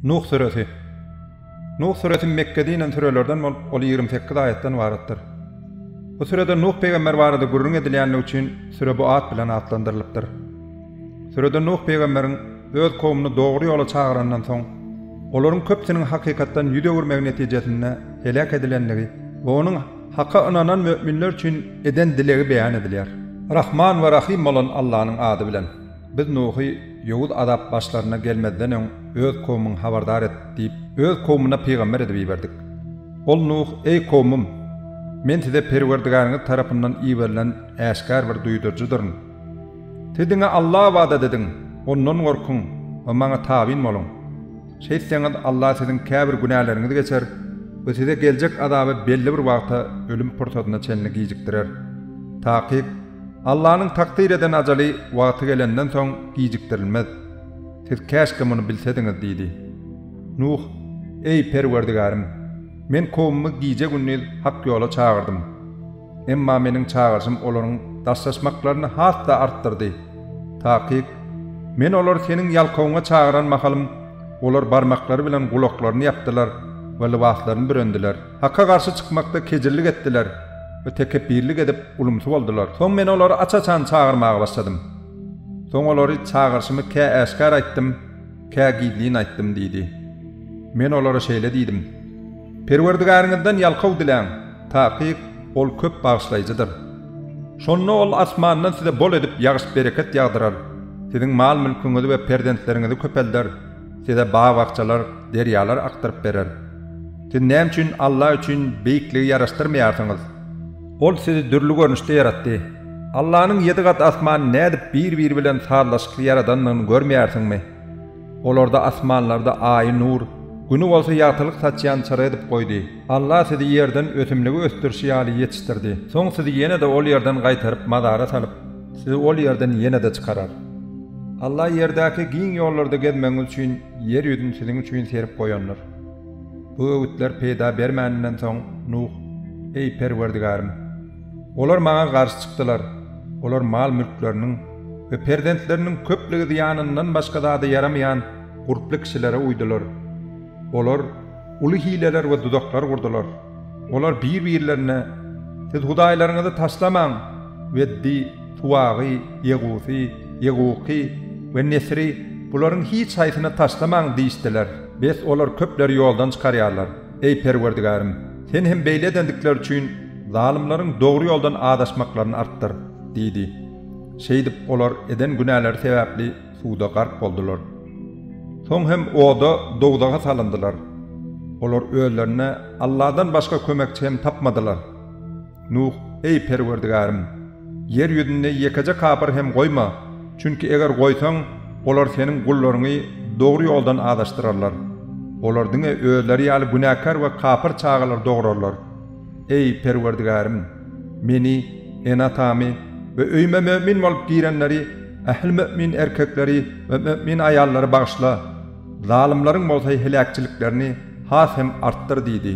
Nuh süresi. Nuh süresi Mekgede inen sürelerden bolup, ol ýigrimi sekiz aýatdan ybaratdyr. Bu sürede Nuh pygamber barada gürrüň edilýänligi üçin süre bu at bilen atlandyrylypdyr. Sürede Nuh pygamberiň öz kowumyny dogry ýola çagyranyndan soň, olaryň köpüsiniň hakykatdan ýüz öwürmegi netijesinde heläk edilendigi we onuň Haka ynanan möminler üçin eden dilegi beýan edilýär. Rahman we Rahym bolan Allanyň ady bilen. Biz Nuhy ýowuz azap başlaryna gelmezden öň öz kowumyňy habardar et diýip, öz kowumyna pygamber edip iberdik. Ol Nuh, Eý kowumym! Men size Perwerdigäriňiz tarapyndan iberilen äşgär bir duýduryjydyryn. Siz diňe Alla ybadat ediň, Ondan gorkuň we Maňa tabyn boluň. Şeýtseňiz, Alla siziň käbir günäleriňizi geçer we size geljek azaby belli bir wagta, ölüm pursatyna çenli gijikdirer. Takyk, Allanyň takdyr eden ajaly wagty gelenden soň gijikdirilmez. Siz käşgä muny bilsediňiz diýdi. Nuh, Eý, Perwerdigärim! Men kowumymy gije-gündiz hak ýola çagyrdym. Emma meniň çagyryşym olaryň daşlaşmaklaryny has-da artdyrdy. Takyk, Men olary seniň ýalkawyňa çagyran mahalym, olar barmaklary bilen gulaklaryny ýapdylar we lybaslaryny bürendiler. Haka garşy çykmakda kejillik etdiler we tekepbirlik edip ulumsy boldular. Soň men olary aç-açan çagyrmaga başladym. Soň olary çagyryşymy kä äşgär aýtdym, kä gizlin aýtdym diýdi. Men olara şeýle diýdim, Perwerdigäriňizden ýalkaw diläň, takyk Ol köp bagyşlaýjydyr. Şonda Ol asmandan size bol edip ýagyş-bereket ýagdyrar, siziň mal-mülküňizi we perzentleriňizi köpelder. Size bag-bakjalar, derýalar akdyryp berer. Siz näme üçin Alla üçin beýikligi ýaraşdyrmaýarsyňyz? Ol sizi dürli görnüşde ýaratdy. Allanyň ýedi gat asmany nädip bir-biri bilen sazlaşykly ýaradandygyny görmeýärsiňmi? Olarda asmanlarda Aýy nur, Güni bolsa ýagtylyk saçýan çyra edip goýdy. Alla sizi ýerden ösümligi ösdürşi ýaly ýetişdirdi. Soň sizi ýene-de ol ýerden gaýtaryp mazara salyp, Sizi ol ýerden ýene-de çykarar. Alla ýerdäki giň ýollarda gezmegiňiz üçin ýer ýüzüni siziň üçin serip goýandyr. Bu öwütler peýda bermäninden soň, Nuh, Eý, Perwerdigärim! Olar Maňa garşy çykdylar, olar mal-mülkleriniň we perzentleriniň köplügi zyýanyndan başga zada ýaramaýan gurply kişilere uýdular. Olar uly hileler we duzaklar gurdular. Olar bir-birlerine, Siz hudaýlaryňyzy taşlamaň! Weddi, Suwagy, Ýegusy, Ýeguky we Nesri, bularyň hiç haýsyny taşlamaň! diýişdiler. Bes, olar köpleri ýoldan çykarýarlar. Eý, Perwerdigärim, Sen hem beýle edendikleri üçin zalymlaryň dogry ýoldan azaşmaklaryny artdyr! diýdi. Şeýdip, olar eden günäleri sebäpli suwda gark boldular. Soň hem oda, dowzaha salyndylar. Olar özlerine Alladan başga kömekçi hem tapmadylar. Nuh, Eý, Perwerdigärim! Ýer ýüzünde ýekeje kapyr hem goýma, çünki eger goýsaň, olar Seniň gullaryňy dogry ýoldan azaşdyrarlar. Olar diňe özleri ýaly günäkär we kapyr çagalary dogurarlar. Eý, Perwerdigärim! Meni, ene-atamy we öýüme mömin bolup girenleri, ähli mömin erkekleri we mömin aýallary bagyşla, zalymlaryň bolsa heläkçiliklerini has hem artdyr diýdi.